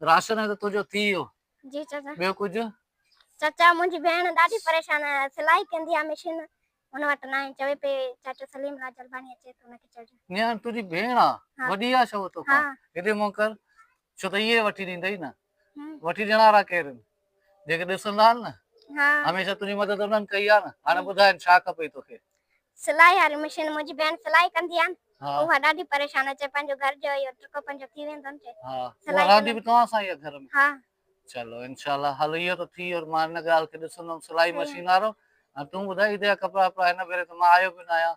Ration ته تنهنجو ٿي ويو. جي چاچا. ٻيو ڪجهه؟ چاچا منهنجي ڀيڻ ڏاڍي پريشان آهي سلائي ڪندي آهي مشين هن وٽ ناهي چوي پئي چاچو سليم راج الباني اچي ٿو ان کي چئجو. نياڻي تنهنجي ڀيڻ آ وڏي آ ڇو توکان. هيڏي منهن ڪر ڇو ته اهي وٺي ڏيندئي نه وٺي ڏيڻ وارا ڪير ان. جيڪي ڏسندا آهن نه هميشه تنهنجي مدد انهن ڪئي آهي نه هاڻي ٻڌاء ڇا کپئي توکي. سلائي واري مشين منهنجي ڀيڻ سلائي ڪندي آهي نه اها ڏاڍي پريشان آهي چي پنهنجو گهر جو اهو ٽڪو پنهنجو ٿي ويندو نه چي سلائي رهندي به توهان سان ئي آهي گهر ۾ ها چلو انشاء الله هل اهو ته ٿي ويو مان هن ڳالهه کي ڏسندم سلائي مشين وارو ۽ تون ٻڌاء عيد جا ڪپڙا وپڙا هن ڀيري ته مان آيو به نه آهيان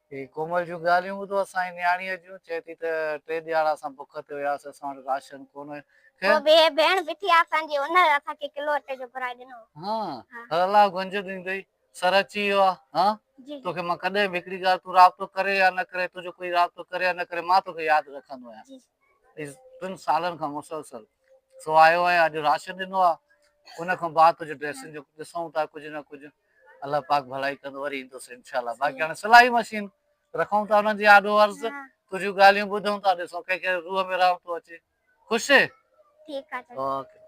هي ڪومل جون ڳالهيون ٻڌو اسان جي نياڻيء جون چئي ٿي ته ٽي ڏهاڙا اسان بک تي هياسين اسان وٽ راشن ڪونه کي. پوء به هي ڀيڻ بيٺي آ اسان جي انهر اسان کي ڪلو اٽي جو گهرائي ڏنو. هان هر الله گهنج ڏيندئي. سر اچي ويو آ هان توکي مان ڪڏهن به هڪڙي ڳالهه تون رابطو ڪري يا نه ڪري تنهنجو ڪوئي رابطو ڪري يا نه ڪري مان توکي ياد رکندو آهيان ايس ٽن سالن کان مسلسل سو آيو آهيان اڄ راشن ڏنو آ ان کان بعد تنهنجي ڊريسن جو ڏسون ٿا ڪجهه نه ڪجهه الله پاڪ ڀلائي ڪندو وري ايندس انشاء الله باقي هاڻي سلائي مشين رکون ٿا انهن جي آڏو عرض تنهنجون ڳالهيون ٻڌون ٿا ڏسون ڪنهن کي روح ۾ رحمتون اچي خوش ٺيڪ آ چل اوڪي